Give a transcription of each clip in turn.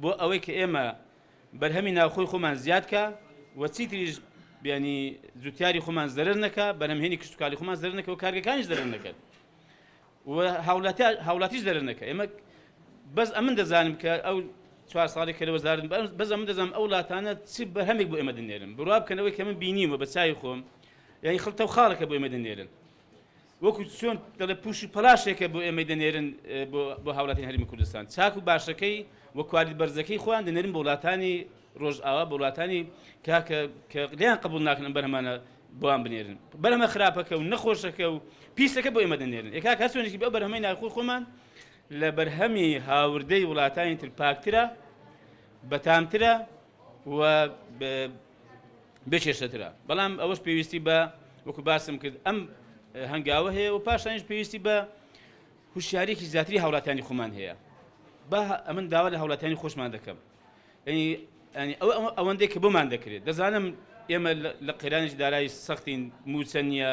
بۆ ئەوەی کە ئێمە بەرهەمی ناوخۆی خۆمان زیادکە و چیتریش بیانی جوتیاری خۆمان زەرر نەکە بەرهمهێنی کشتتوکاری خۆمان زەر نەکە و کارگەکانیش زەرر نەکەن هاوڵاتیش زەرر نەکە ئێمە بەس ئەمن دەزانم کە ئەو چوار ساڵی کە لە وەزارن بەس ئەمن دەزانم ئەو وڵاتانە چی بەرهەمێک بۆ ئێمە دنێرن بڕوا بکەنەوەی کە من بینیمە بە چای خۆم یعنی خڵتە و خاڵەکە بۆ ئێمە دنێرن وەکو چۆن دەڵێ پوش و پەلاشێکە بۆ ئێمەی دەنێرن بۆ هاوڵاتیانی هەرێمی کوردستان چاک و باشەکەی و کوالیت بەرزەکەی خۆیان دەنێرن بۆ وڵاتانی ڕۆژئاوا بۆ وڵاتانی کاکە کە دەیان قبول ناکەن ئەم بەرهەمانە بۆیان بنێرن بەرهەمە خراپەکە و نەخۆشەکە و پیسەکە بۆ ئێمە دەنێرن ئێکا کە سوێنێکی بە بەرهەمەی ناخۆی خۆمان لە بەرهەمی هاوردەی وڵاتانی تر پاکترە بەتامترە و بێ کێشەترە بەڵام ئەوەش پێویستی بە وەکو باسم کرد ئەم هەنگاوە هەیە و پاشانش پێویستی بە هوشیارێکی زیاتری هاوڵاتانی خۆمان هەیە با ئەمن داوا لە هاوڵاتانی خۆشمان دەکەم ینی ئەو ئەوەندەی کە بۆمان دەکرێت دەزانم ئێمە لە قەیرانێکی دارایی سەختین موچە نییە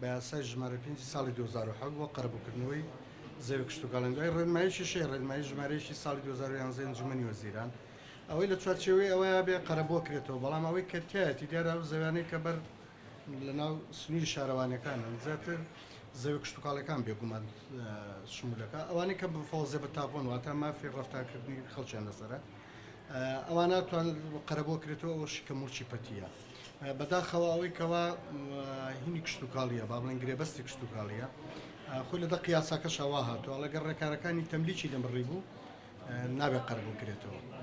بە یاسای ژمارە پێنج ی ساڵی دوو هەزار و حەوت بۆ قەرەبووکردنەوەی زەوی کشتوکاڵی و دوای ڕێنماییەکی شەی ڕێنمایی ژمارەیەکی ساڵی دوو هەزار و یانزە ی ئەنجوومەنی وەزیران ئەوەی لە چوارچێوەی ئەوەیا بێ قەرەبووە کرێتەوە بەڵام ئەوەی کە تیایەتی دیارە ئەو زەویانەی کە بەر لەناو سنووری شارەوانیەکانن زیاتر زەوی کشتوکاڵیەکان بێگومان شموولەکە ئەوانەی کە بفەوەزێ بە تاپۆن واتە مافی ڕەفتارکردنی خەڵکیان لەسەرە. ئەوا ناتوانێت قەرەبۆ کرێتەوە ئەوە شکە موڵچی پەتیە بەداخەوە ئەوەی کەوا هینی کشتتوکاڵیە با بڵێن گرێبەستی کشتتوکاڵیە خۆی لە دە قیاساکە شەوا هاتووە لەگەر ڕێکارەکانی تەملیکی دەمڕی بوو نابێت قەربوو کرێتەوە.